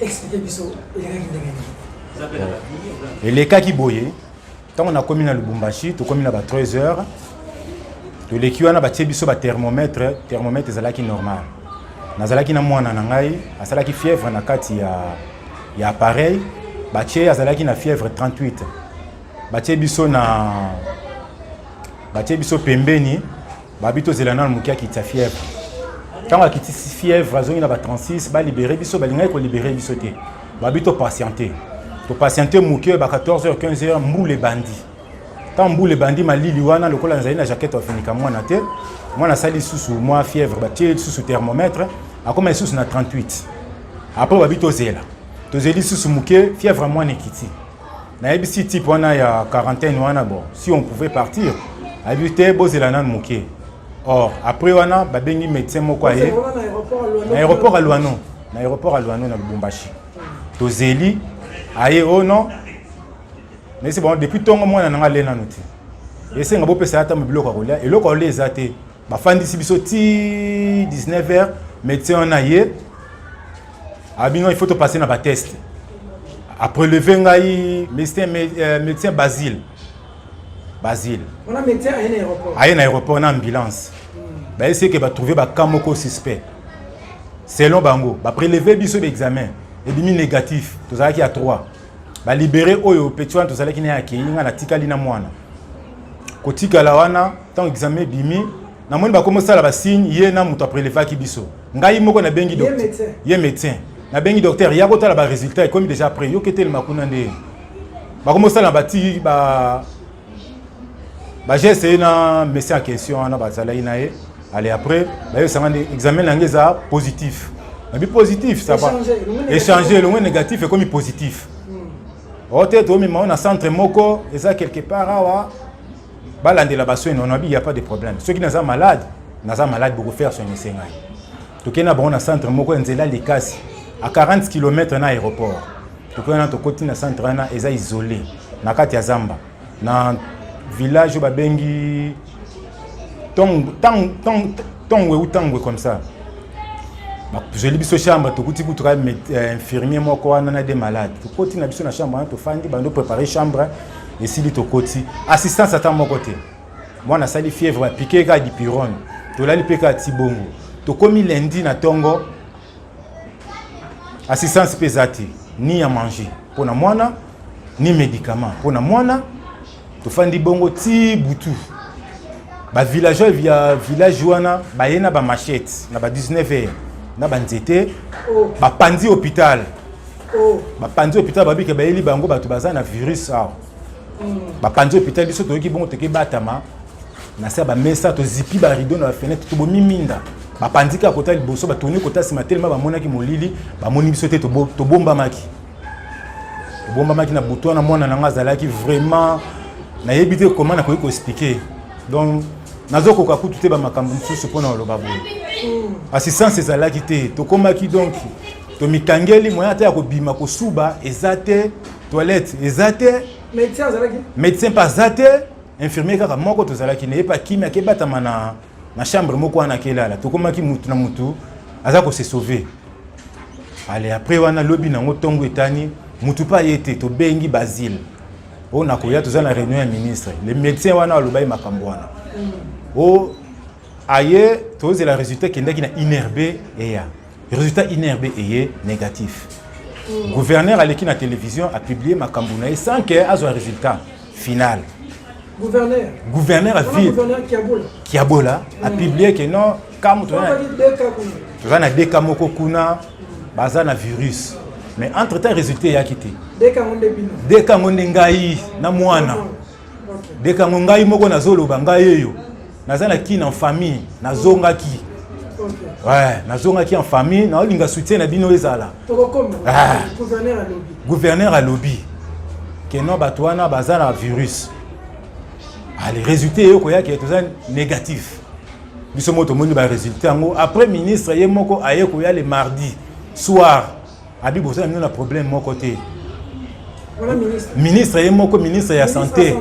expliquer biso elekaki ndenge nini elekaki boye ntango nakomi na lubumbashi tokomi na ba 3 heures toleki wana batie biso bathermomètre thermomètre ezalaki normal nazalaki na mwana na ngai asalaki fièvre na kati ya, ya appareil batie azalaki na fièvre 38 batie biso na batie biso pembeni Babi tozela nanu moke akitisa fièvre ntango akitisi fièvre azongi na ba 36 balibere biso balingaki kolibere biso te babi topatiente topatiente moke ba 14 heures 15 heures mbula ebandi ntango mbula ebandi malili wana lokola nazali na jaquette wafinika mwana te mwana asali lisusu mwa fièvre batie lisusu thermomètre akoma lisusu na 38 apres babi tozela tozeli lisusu moke fièvre ya mwana ekiti nayebisi type wana ya quarantaine wana bon si on pouvait partir ayebi te bozela nanu moke or après wana babengi médecin moko aye na aéroport ya luano na aéroport ya luano na lubumbashi tozeli aye o oh non nayesi bango depuis ntongo mwana na ngai ale nanu te esenga bopesa ye ata biloko ya kolia eloko ya kolia eza te bafandisi biso ti 19 heures médecin wana ye abino il faut topase na bateste apreleve ngai médecin, euh, médecin basile basile aye na aéroport na ambulance hmm. bayesi eke batrouve baka moko suspect selon bango bapreleve biso baexamen ebimi négatif tozalaki ya 3 balibere oyo petit wana tozalaki na ye akei ngai natikali na mwana kotikala wana ntango examen ebimi namoni bakomi osala basigne ye na moto aprelevaki biso ngai moko nabengi ye médecin nabengi docteur ya kotala baresultat ekomi déjà après yoki etelema kuna nde bakomi osala bati ba bageste ye na messi en question wana bazalaki na ye ale après bayebisanga nde examen na yango eza positif nabi positif sava échange elongwe négatif ekomi positif hmm. ote tomema na centre moko eza quelque part awa balandela baswene wana abi ya pas de problème soki naza malade naza malade bokofaire soin esengai tokei na bango na centre moko ya nzela likasi a 40 km na aéroport tokei wana tokoti na centre wana eza isolé na kati ya zamba na village oyo babengi tongwe ou tangwe comme ça bazweli biso chambre tokuti kutu kaka euh, infirmier moko wana na de malade tokoti na biso na chambre wana tofandi bando prépare chambre esili tokoti assistance ata moko te mwana asali fièvre bapike kaka dipirone tolali mpe kaka ti bongo tokomi lendi na ntongo assistance mpe eza te ni ya manger mpo na mwana ni médicament mpo na mwana tofandi bongo ti butu bavillageois ya village wana baye na bamachete na ba 19 heure na banzete oh. bapanzi hôpital oh. bapanzi hôpital babike bayeli bango bato baza na virus awa mm. bapanzi hôpital biso toyoki bongo toke batama na se ya bamesa tozipi barido na bafenetre tobomi minda bapanzi kaka kota liboso batoni kota nsima telema bamonaki molili bamoni biso te tobombamaki tobombamaki na butu wana mwana na ngai azalaki vraiment nayebi te koma nakoki koexplike donc nazokoka kutu te bamakambo mosusu mpo na koloba boye assistance ezalaki te tokomaki donki tomikangeli moyen ata ya kobima kosuba eza te toilette eza te médecin mpe aza te infirmier kaka moko tozalaki na ye mpe akimi akebatama na, na chambre moko wana akelala tokomaki mutu na mutu aza kose sauve ale après wana lobi nango ntongo etani mutu mpe aye te tobengi basile oyo oh, nakoya toza na réunion ya ministre le médecin wana aloba ye makambo wana mm. o oh, aye tozela résultat ekendaki na inerbe eya Resultat INRB eye négatif. Mm. Gouverneur aleki na télévision a publier makambo na ye sans que azwa résultat final. Gouverneur. Gouverneur a vie. Kiabola a mm. publier que non kamu tozana tozana deka moko kuna mm. baza na virus. Mais entre temps résultat ya kiti. Deka ngonde bino. Deka ngonde ngai na mwana. dekango ngai moko nazoloba ngai eyo naza na kine en famille nazongaki ouais nazongaki en famille naolinga soutien na bino ezala ah. gouverneur alobi ke non bato wana baza na virus ale ah, résultat eyo koyaki toza négatif biso moko tomoni baresultat yango après ministre ye moko aye koya le mardi soir Abi boza na mino na problème moko te. Voilà ministre. Ministre ye moko ministre ya santé.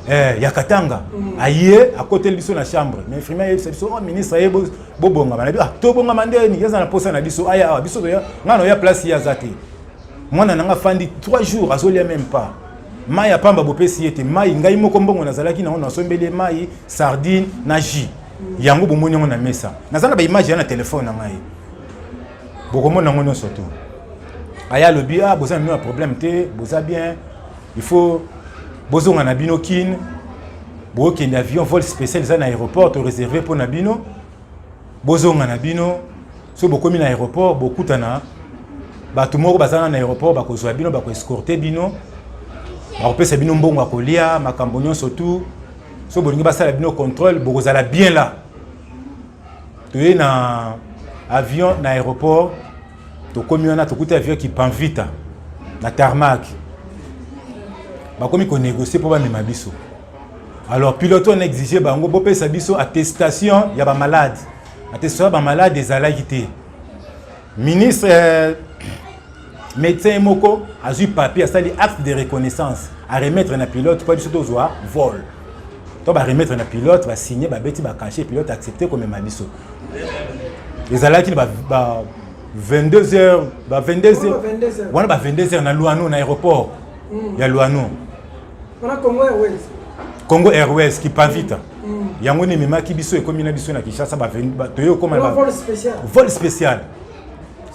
Eh ya Katanga. Mm. Aye akoteli biso na chambre. Mais vraiment ye biso oh ministre ye bo bonga bana ah to bonga mande ni yeza na posa na biso aya ah, biso ya ngano ya place ya zate. Mwana nanga fandi 3 jours azolia même pas. Mai apamba bopesi ye te mai ngai moko mbongo nazalaki na ona asombeli mai sardine na jus. Mm. Yango bomoni yango na mesa. Nazana ba image ya na telefone na ngai. bokomona yango nyonso tu aya alobi ah boza na bino ya problème te boza bien il faut bozonga na bino kin bokende avion vol spécial eza na aéroport to réservé mpo na bino bozonga na bino soki bokomi na aéroport bokutana bato moko bazanga na aéroport bakozwa bino bakoescorte bino bakopesa bino mbongo ya kolia makambo nyonso tu soki bolingi basala bino contrôle bokozala bien la toye na avion na aéroport tokomi wana tokuti avion kipanvita na tarmac bakomi konégocier mpo bamema biso alors pilote on exige bango bopesa biso attestation ya bamalade attestation ya bamalade ezalaki te Ministre euh, médecin moko azui papier asali acte de reconnaissance à remettre na pilote mpo biso tozwa vol to ba remettre na pilote ba signer ba beti ba cacher pilote accepter komema biso ezalaki ba, ba 22 heures ba 22 heures wana ba 22 heures na Luano na aéroport mm. ya Luano wana congo airways congo airways kipavita mm. mm. yango nde ememaki biso ekomi na biso na kinshasa toye okoma vol spécial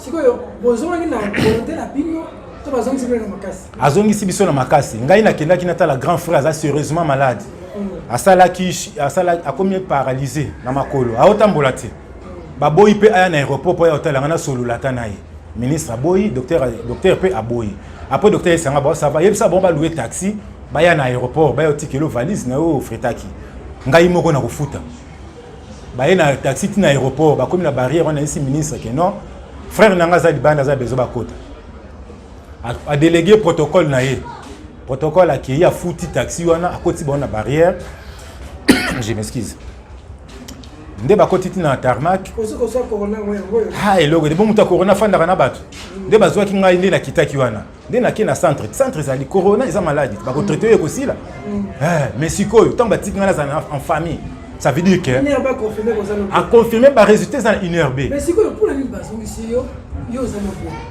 sikoyo bozongaki na volonté na bino to bazongisi bino na makasi azongisi biso na makasi ngai nakendaki natala grand frère aza sérieusement malade mm. asalaki akomi paralyse na makolo aotambola te mm. baboyi mpe aya na aéroport mpo aya kotala ngai nasolola ata na ye ministre aboyi docteur docteur pe aboyi après docteur esanga ba ça va yebisa bon ba louer taxi baya na aéroport bayo tikelo valise na yo fretaki ngai moko na kofuta baye na taxi ti na aéroport bakomi na barrière wana esi ministre ke non frère na ngai aza libanda aza bezo bakota adelege protocole na ye protocole akei afuti taxi wana akoti bango na barrière je m'excuse nde bakoti ti na tarmac ha eloko ete bo moto ya corona afandaka na bato nde bazwaki ngai nde nakitaki wana nde nake na centre centre ezali corona eza maladi bakotraite oyo ekosila mm. eh, mais sikoyo ntango batiki ngai nazala en famille ça veut dire que aconfirme baresultat eza na une heure b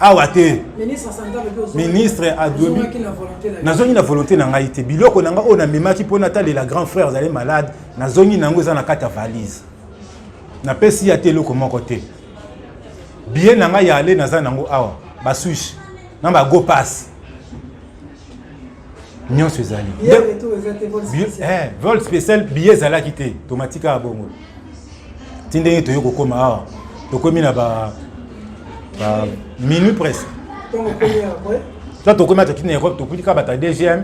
awa te ministre adomi nazongi na volonté na ngai te biloko na ngai oyo namemaki mpo natalela grand frère azali malade nazongi na yango eza na kati ya valise napesi ya te eloko moko te biye na ngai ya ale naza na yango awa baswiche na bago passe nyonso ezali eh, vol spécial billet ezalaki te tomatika bongo ti ndenge toye kokoma awa tokomi na ba minuit presque to tokomi ataki na europe tokutika bata dgm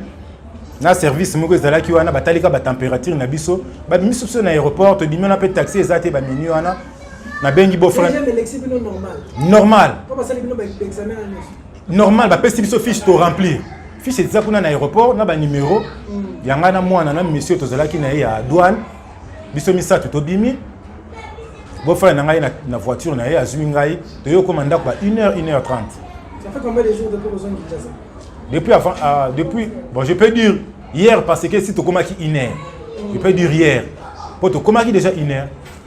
na service moko ezalaki wana batalika batempérature na biso babimisi biso na aéroport tobimi wana mpe taxi eza te baminui wana nabengi bofra normal normal bapesi biso fiche to remplir fiche eza kuna na aéroport na banimero mm. ya ngai na mwana na monsieur tozalaki na ye ya douane biso misato tobimi bofana na ngai na voiture na ye azwi ngai toye okoma ndako ba 1 heure 1 heure 30 depuis avant uh, depuis bon je peux dire hier parce que si tokomaki 1 heure je peux dire hier mpo tokomaki déjà 1 heure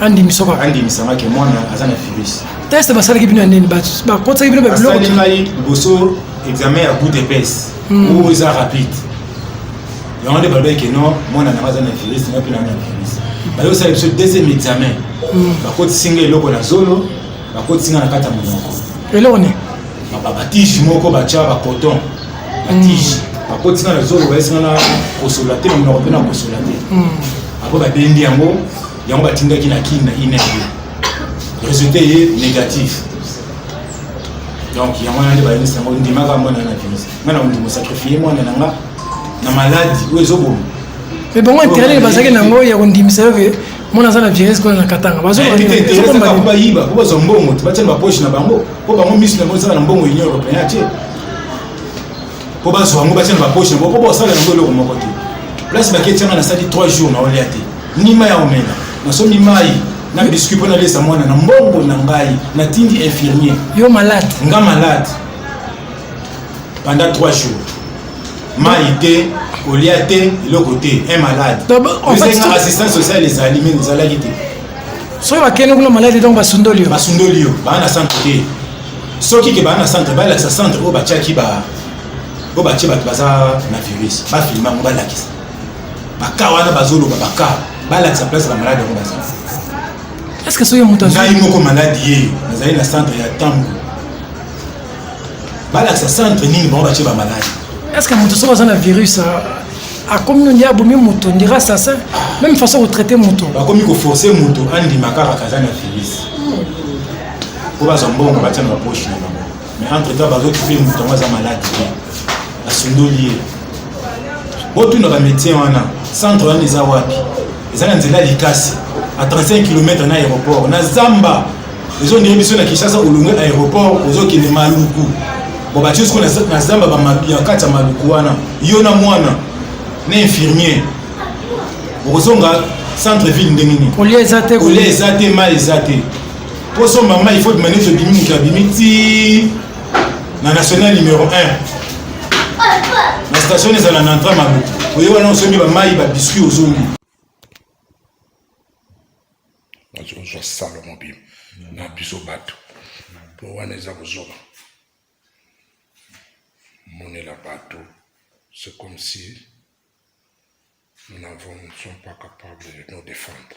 andimisa kaka andimisanga ke mwana aza na virus teste basalaki bino ya nini bakotisaki bino babilokosali ngai liboso examen ya gout epese hmm. oyo eza rapide yango nde balobaki ke non mwana nanga aza na virus nga mpe nanga na virus bayo osala biso deuxième examen hmm. bakotisi nga eloko na zolo bakotisi nga na kati ya monoko eloko nini batige moko batya bacoton batige hmm. bakotisi nga na zolo bayesi nga na kosola te monoko mpe na kosola te apo babendi yango yango batindaki na kin na ine resultat ye négatif donc yango wana nde bayebisi yango ndimaka mwana na bimisa nga na ondimo sacrifie mwana na nga na maladi oyo ezoboma mais bango intérêt bazalaki na yango ya kondimisa yo ke mwana aza na virus kuna na katanga bazobayiba po bazwa mbongo te batya na bapoche na bango po bango misu na bango ezaka na mbongo union européen atie po bazwa yango batya na bapoche na bango po bosala yango eloko moko te place baketyanga nasali 3 jours na olia te Nima ya omela nasombi mai na biscuit mpo nalesa mwana na mbongo na ngai natindi infirmier yo malade nga malade pendant 3 jours mai te kolia te eloko te un malade esenga assistance sociale ezali me ezalaki te soki bakende kuna malade donc basundoli yo basundoli yo baa na centre te soki ke baa na centre balakisa centre oyo batiaki ba oyo batie bato baza na virus bafilma yango balakisa baka wana bazoloba baka balakisa place ba malade yango bazali eske soki moto ngai moko maladi ye nazali na centre ya ntango balakisa centre nini bango batye ba maladi eske moto soki aza na virus ah, akomi nonde abomi moto ndira assassin même façon kotraite moto bakomi koforce moto andima kaka kaza na virus mpo bazwa mbongo batya na bapoche na bango mais entre temps bazokipe moto yango aza maladi te nasundoli ye botuna bamédecin wana centre wana eza wapi eza na nzela likasi a 35 km na aéroport na zamba ezondenge biso na kinshasa olongwe aéroport ozokende maluku bo batie soko na zamba ya kati ya maluku wana yo na mwana na infirmier okozonga centre ville ndenge nini olia eza te olia eza te mai eza te mpo somba mai faut demande tobimi moto abimi ti na national numero 1 na station ezala na entra mabu oye wana osombi bamai babiscuit ozongi ozwa salo mobima na biso bato mpo wana eza kozoba monela bato c'est comme si nous n'avons ne sommes pas capables de nous défendre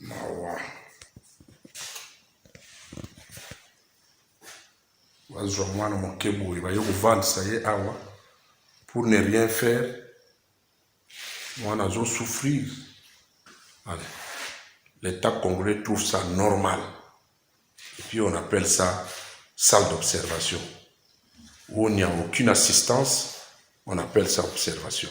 mawa bazwa mwana moke boye baye kovandisa ye awa pour ne rien faire mwana azo souffrir allez l'état congolais trouve ça normal et puis on appelle ça salle d'observation où il n'y a aucune assistance on appelle ça observation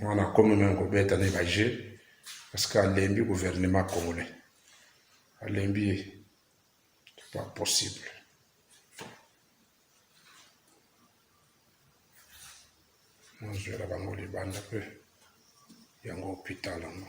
mwana akomi meme kobeta ne ba jeu parce que alembi gouvernement congolais alembi ye c'est pas possible nazwela bango libanda mpe yango hopital yango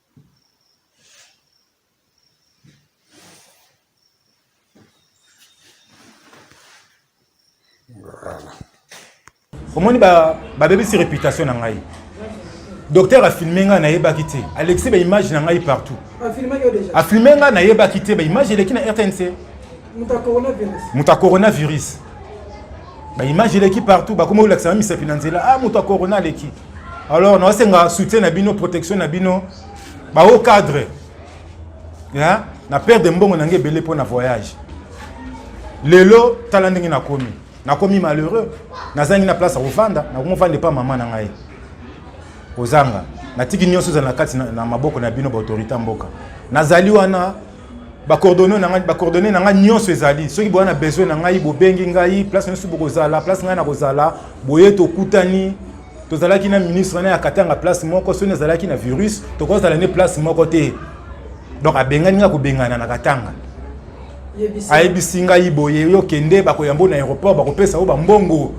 omoni babebisi ba réputation na ngai docteur afilme ngai nayebaki te alekisi baimage na ngai partout afilme ngai nayebaki te baimage eleki na rtnc moto ya coronavirus baimage eleki partout bakomi kolakisa na misapi na nzela a ah, moto ya corona aleki alors naosenga soutien na bino protection na bino bahaut cadre hein? na perde mbongo na ngai ebele mpo na voyage lelo tala ndenge nakomi nakomi malheureux nazangi na place ya kofanda nakomi ofanda epa mama na ngai kozanga natiki nyonso ezala na kati na maboko na bino baautorité ya mboka nazali wana ba coordonnées na ngai ba coordonnées na ngai nyonso ezali soki boya na besoin na ngai bobengi ngai place nyonso bokozala place ngai nakozala boye tokutani tozalaki na ministre na ya katanga place moko soki nazalaki na virus tokozala nde place moko te donc abengani ngai kobengana na katanga ayebisi ngai boye yo kende bakoyambo na aéroport bakopesa yo bambongo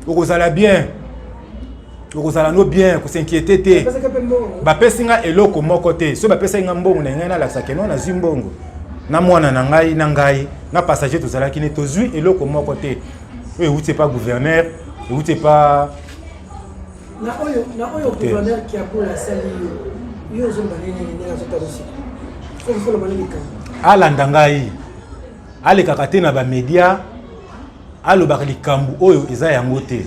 okozala bien okozala no bien kosinquiete te bapesi nga eloko moko te soki bapesaki nga mbongo na ngai nalakisa keno nazwi mbongo na mwana na ngai na ngai na passager tozalaki ne tozwi eloko moko te oyo euti epa gouverneur euti epa na oyo na oyo gouverneur kiakola asali yo yo ozoloba nini ndenge azotalisi soki foloba nini likambo alanda ngai alekaka te na bamedia alobaka likambo oyo eza yango te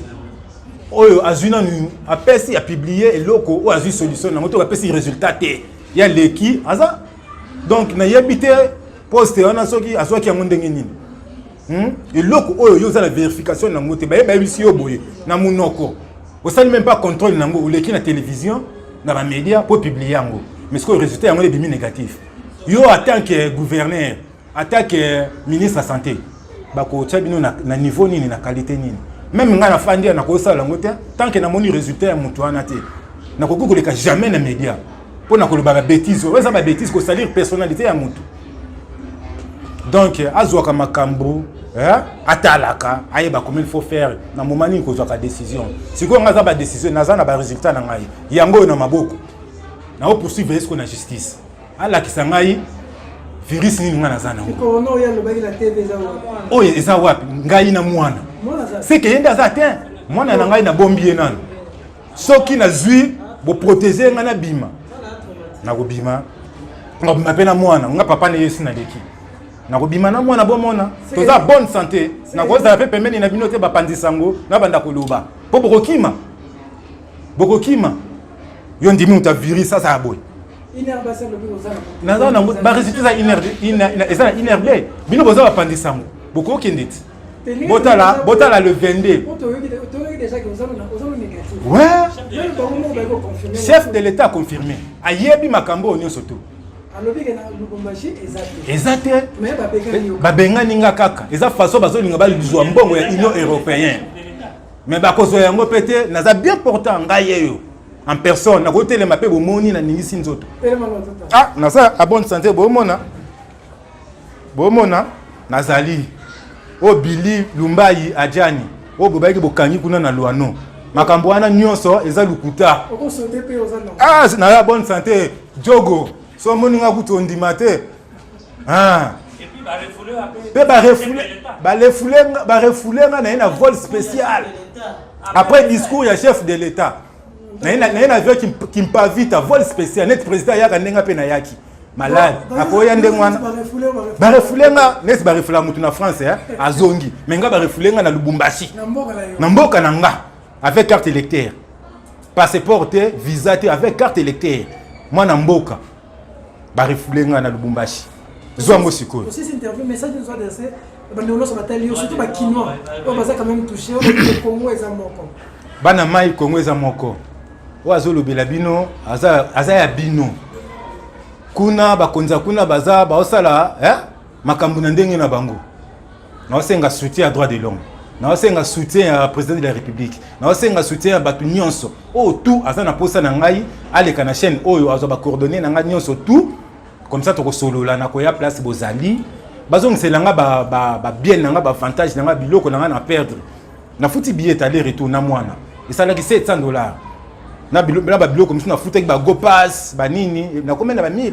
oyo azui nanu apesi apublie eloko oyo azui solution nango to apesi résultat te ya leki aza donc nayebi te poste wana soki azwaki yango ndenge nini hmm? eloko oyo yo oza na verification nango te baye bayebisi yo boye na monoko osali meme pas contrôle nango oleki na télévision na bamédia mpo publie yango mais sikoyo résultat yango ebimi négatif yo atant que gouverneur Ata que ministre ya sante bakotya bino na, na niveau nini na qualité nini meme ngai nafandi ya nakoki sala yango te tant que namoni résultat ya moto wana te nakoki koleka jamais na média mpo na koloba babétise oyo eza babétise kosalir personnalité ya moto donc azwaka makambo eh, atalaka ayeba comme il faut faire na moment nini kozwaka décision sikoyo ngai aza badécision naza na baresultat na ngai yango oyo na maboko nao poursuivre esko na justice alakisa ngai virus nini ngai naza nango oyo eza wapi ngai na mwana seke ye nde aza te mwana na ngai nabombi ye nano soki nazwi boprotege ngai nabima nakobima nakobima mpe na mwana nga papa na ye esi naleki nakobima na mwana bomona toza bonne santé nakozala mpe pembeni na bino te bapanzi sango na banda koloba mpo bokokima bokokima yo ndimi uta virus sasa ya boye naza nango baresultat eza inrb eza na inrb bino boza bapandi sango bokokende ti botala botala le 22 chef de l'état confirmé ayebi makambo oyo nyonso to eza te babengani nga kaka eza façon bazolinga bazwa mbongo ya union européenne mais bakozwa yango mpe te naza bien portant ngai yeyo en personne nakoki telema mpe bomoni naningisi nzoto ah naza a bonne santé bomona bomona nazali oyo bili lumbayi ajani oyo bobayaki bokangi kuna na lwano makambo wana nyonso eza lokuta ah, naza bonne santé jogo so omoni nga kutu ondima te Ah. mpe barefoule nga na ye na vol spécial après discours ya chef de l'état na ye na avion kimpavita vol spécial neti président ayaka ndenge mpe nayaki malade akoya ndenge wana barefoule nga neti barefula motu na france azongi me nga barefoule nga na lubumbashi na mboka na nga avec carte électeur passeport te visa te avec carte électeur mwana mboka ba refoule nga na Lubumbashi zwa yango sikoyo osisi interview message nous adresse bande olosa batali yo surtout ba kinois oyo baza quand même touché oyo Congo eza moko bana mai Congo eza moko oyo azolobela bino aza aza ya bino kuna bakonzi ya kuna baza baosala eh makambo na ndenge na bango naosenga soutien ya droit de l'homme naosenga soutien ya président de la république naosenga soutien ya bato nyonso oyo tout aza na mposa na ngai aleka na chaîne oyo azwa bacoordonné na ngai nyonso tout comme ça tokosolola na koya place bozali bazongisela nga babiele na nga baavantage na nga biloko na nga na perdre nafuti billet aller retour na mwana esalaki 700 dollars na babiloko mosusu nafutaki bagopas banini nakomela ba 1000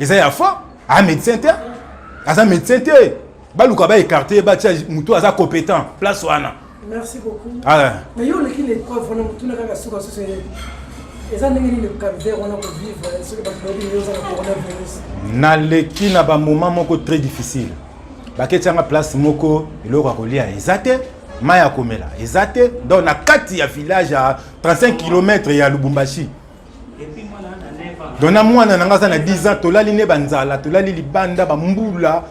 eza ya fo a médecin te aza médecin te baluka ba écarte ye batya motu aza compétent place wana merci beaucoup ah. mais yo oleki na épreuve wana motuna kaka suka susu eza ndenge nini calvaire wana kovivre soki bato bayebi yo oza na coronavirus naleki na bamoment moko très difficile baketyanga place moko eloko ya kolia eza te mai ya komela eza te donc na kati ya village ya 35 km ya lubumbashi donc na mwana na ngai aza na 10 ans tolali ne banzala tolali libanda bambula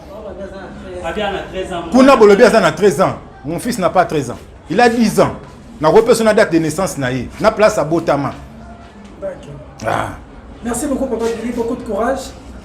kuna bolobi aza na 13 ans mon fils n'a pas 13 ans il a 10 ans nakoki mpe so na date de naissance na ye na place abotama ah. merci beaucoup papa beaucoup de courage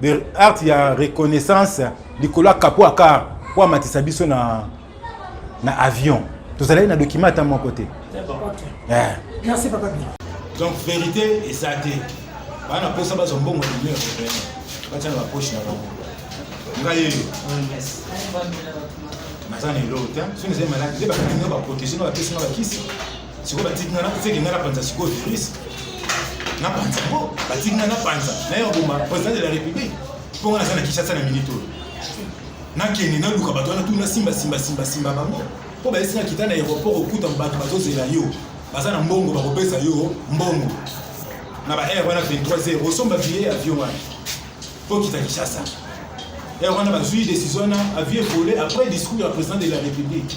de art ya reconnaissance likolo ya kapo ya car mpo amatisa biso na, na avion tozalaki na document ata moko te eh. donc vérité eza te baa na mposa bazwa mbongo ya union européenne batya na bapoche na bango ngai eyo naza na eloko te soki ezali maladi nde bakangi baprotege na bapesi na bakisi sikoyo batiki nga naseki nga napanza sikoyo virus napanza yango batiki nga napanza naye oboma président de la république mpo nga naza na kinshasa na minute oyo nakende naluka bato wana tu nasimba simba simba simba bango mpo bayesi nga kita na aéroport okuta bato bazozela yo baza na mbongo bakopesa yo mbongo na ba air wana 23 heures osomba billet ya avion wana mpo okita kinshasa heure wana bazwi décision wana avion evole après discours ya président de la république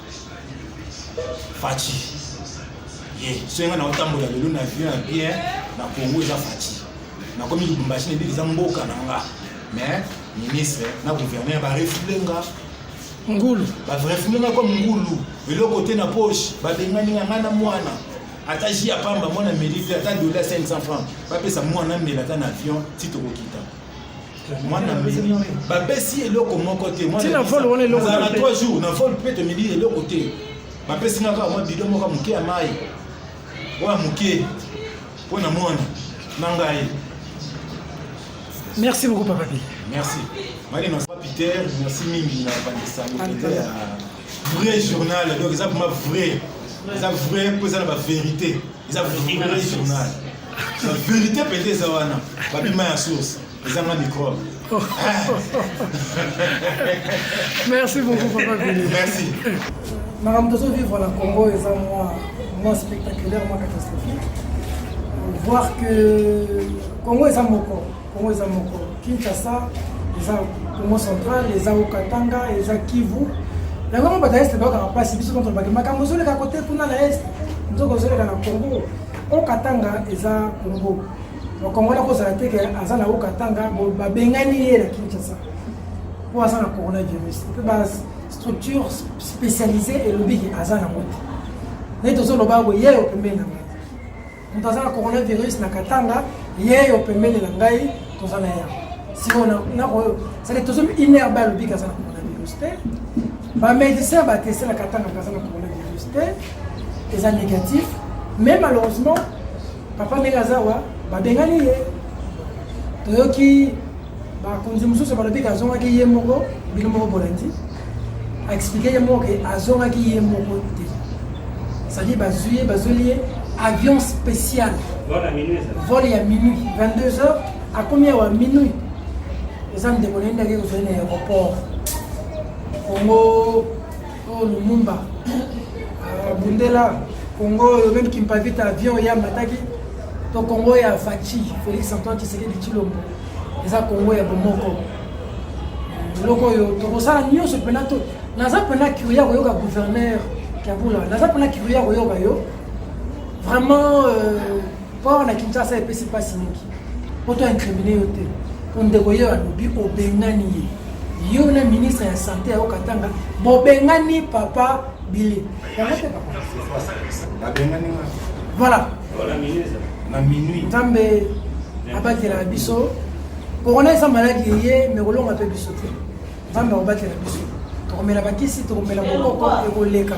Fatshi. Ye, soki nga na otambola lelo na vie na bien na Congo eza Fatshi. Na komi Lubumbashi na eza mboka na nga. Mais ministre na gouverneur ba refule nga ngulu ba refule nga comme ngulu eloko te na poche ba bengani nga na mwana ata ji ya pamba mwana melite ata dola 500 francs bapesa mwana mela ata na avion ti tokokita mwana mimi bapesi eloko moko te mwana na 3 jours na vol mpe tomili eloko te bapesi nga kaka mwa bido moko moke ya mai oyo ya moke mpo na mwana na ngai merci beaucoup papa bi merci mali na peter merci mingi na bandisani mpenza ya vrai journal donc eza vraimen eza vrai mpo eza na baverité eza vrai journal La vérité peut-être eza wana babima ya source ezanga microbe. Merci beaucoup papa Billy. Merci. Makambo tozo vivre na Congo eza mwa mwa spectaculaire mwa catastrophique. Voir que Congo eza moko, Congo eza moko. Kinshasa eza Congo central, eza Katanga, eza Kivu. Yango moko bata est bakaka mpasi biso ntonto bakima makambo ozoleka kote kuna na est nzoka ozoleka na Congo Haut Katanga eza Congo. Ba Congolais ko zala te ke aza na Haut Katanga bo ba bengani ye na Kinshasa. Po aza na coronavirus. Pe ba structure spécialisée et lobi ke aza na moto. Ne tozo loba bo yeyo pembeni na ngai. Moto aza na coronavirus na Katanga, yeyo pembeni na ngai. toza na ya sikoyo nakoyo seke tozo une heure ba lobi kaza na coronavirus te bamédecin bateselaka ntango kaza na coronavirus te eza négatif mais malheureusement papa ndenge aza wa babengani ye toyoki bakonzi mosusu balobi kazongaki ye moko bino moko bolandi a explique ye moko ke azongaki ye moko te cetadi bazwi ye bazweli ye avion spécial vol ya minuit 22 heures akomi awa minuit eza ndeko naye ndaki kozwai na aéroport kongo oyo lumumba abundela ah, kongo oyo meme kimpavita avion ya mataki to kongo ya faci félix antoine tshisekedi tshilombo eza congo ya bomoko eloko oyo tokosala nyonso mpena to naza mpena curie ya koyoka gouverneur kabula naza mpena curie ya koyoka yo vraiment euh, mpo awa na kinshasa epesi mpasi mingi mpo to incrimine yo te mpo ndeko yo alobi obengani ye yo na ministre ya sante ya okatanga bobengani papa bile yango te papa voilà na minui nzambe abatela biso corona eza maladi eye me kolonga mpe biso te nzambe akobatela biso tokomela bakisi tokomela bokoko ekoleka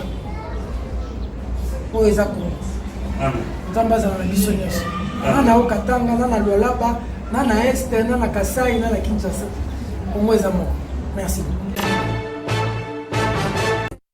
oyo eza kongo nzambe azala na biso nyonso na na okatanga na na lwalaba na na este na na kasai na na kinshasa kongo eza moko merci beaucoup